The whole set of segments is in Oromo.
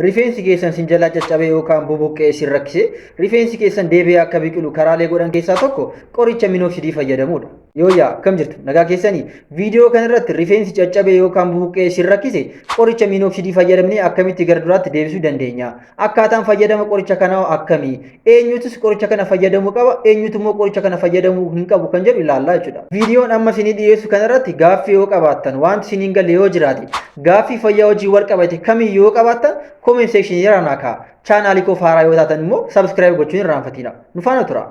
Rifeensi keessan sin jalaa caccabee yookaan bubuqqee sin rakkise rifeensi keessan deebi'ee akka biqilu karaalee godhan keessaa tokko qoricha minoksidii fayyadamuudha. Yooyyaa akkam jirtu nagaa keessanii viidiyoo kanarratti rifeensi caccabee yookaan bubuqqee sin rakkise qoricha minoksidii fayyadamnee akkamitti gara duraatti deebisuu dandeenya? Akkaataan fayyadama qoricha kanaa akkami? eenyutus qoricha kana fayyadamuu qaba eenyutu immoo qoricha kana fayyadamuu hin qabu kan jedhu ilaallaa jechuudha. Viidiyoon amma isinii dhiyeessu kanarratti gaaffii yoo qabaattan wanti isiniin galle yoo jiraate gaaffii fayyaa wajjin wal qabate kamiyyuu yoo qabaattan comment section irraa naa kaa'a. Chaanaalii koof haaraa yoo taatan immoo subscribe gochuun hin irraanfatina. Nu faana tura.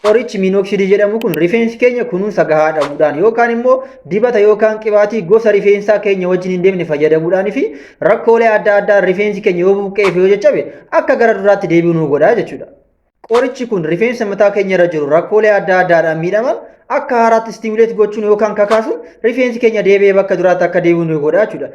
Qorichi miinoksidii jedhamu kun rifeensi keenya kunuunsa gahaa dhabuudhaan yookaan immoo dibata yookaan qibaatii gosa rifeensaa keenya wajjin hin deemne fayyadamuudhaan fi rakkoolee adda addaa rifeensi keenya yoo buqqee fi yoo jajjabe akka gara duraatti deebi'u nu godha jechuudha. Qorichi kun rifeensa mataa keenya irra jiru rakkoolee adda addaadhaan miidhaman akka haaraatti istimuleet gochuun yookaan kakaasuun rifeensi keenya deebi'ee bakka duraatti akka deebi'u nu godha jechuudha.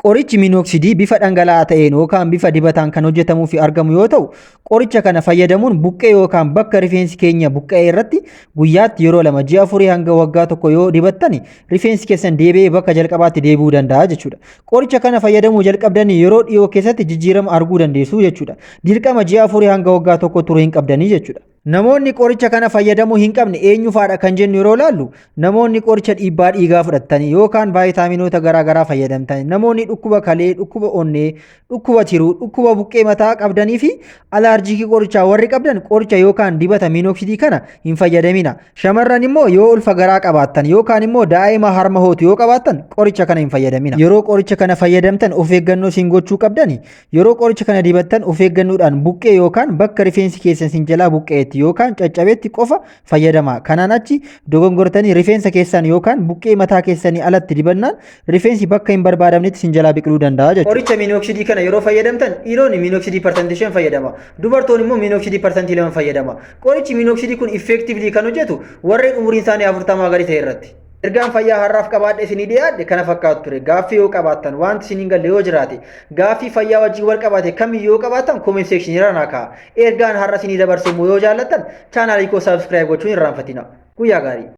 Qorichi minooksidii bifa dhangala'aa ta'een yookaan bifa dibataan kan hojjetamuu fi argamu yoo ta'u, Qoricha kana fayyadamuun buqqee yookaan bakka rifeensi keenya buqqa'ee irratti guyyaatti yeroo lama ji'a afurii hanga waggaa tokko yoo dibattani rifeensi keessan deebi'ee bakka jalqabaatti deebi'uu danda'a jechuudha. Qoricha kana fayyadamuu jalqabdanii yeroo dhiyoo keessatti jijjiirama arguu dandeessu jechuudha. Dirqama ji'a afurii hanga waggaa tokko turuu hin qabdanii jechuudha. Namoonni qoricha kana fayyadamuu hin qabne eenyufaadha kan jennu yeroo ilaallu namoonni qoricha dhiibbaa dhiigaa fudhatanii yookaan vaayitaaminoota garaagaraa fayyadamtanii namoonni dhukkuba kalee, dhukkuba onnee, Dhukkuba tiruu, dhukkuba buqqee mataa qabdanii fi alaarjiikii qorichaa warri qabdan qoricha yookaan dibata miinoksidii kana hin fayyadamina. Shamarran immoo yoo ulfa garaa qabaattan yookaan immoo daa'ima harma hootu yoo qabaattan qoricha kana hin fayyadamina. Yeroo qoricha kana fayyadamtan of eeggannoo isin gochuu qabdani. Yeroo qoricha kana dibattan of eeggannoodhaan buqqee yookaan bakka rifeensi keessan isin jalaa buqqa'etti yookaan caccabetti qofa fayyadamaa. Kanaan achi dogongortanii rifeensa keessan yookaan buqqee mataa keessanii alatti dibannaan rifeensi bakka hin barbaadamnetti sin jalaa biqiluu danda'a jechuudha. Qoricha miinoksidii kana yeroo fayyadamtan dhiironni miinoksidii parsantii shan fayyadama. Dubartoonni immoo miinoksidii parsantii lama fayyadama. Qorichi miinoksidii kun effectively kan hojjetu warreen umuriin isaanii afurtamaa gadi ta'e irratti. Ergaan fayyaa har'aaf qabaadhe isinii dhiyaadhe kana fakkaatu ture. Gaaffii yoo qabaattan wanti isiniin galle yoo jiraate gaaffii fayyaa wajjin wal qabate kamiyyuu yoo qabaattan comment section irra naa ka'a. Ergaan har'a isinii dabarse immoo yoo jaallattan chaanaalii koo saabskiraayib gochuu hin irraanfatina. Guyyaa gaarii!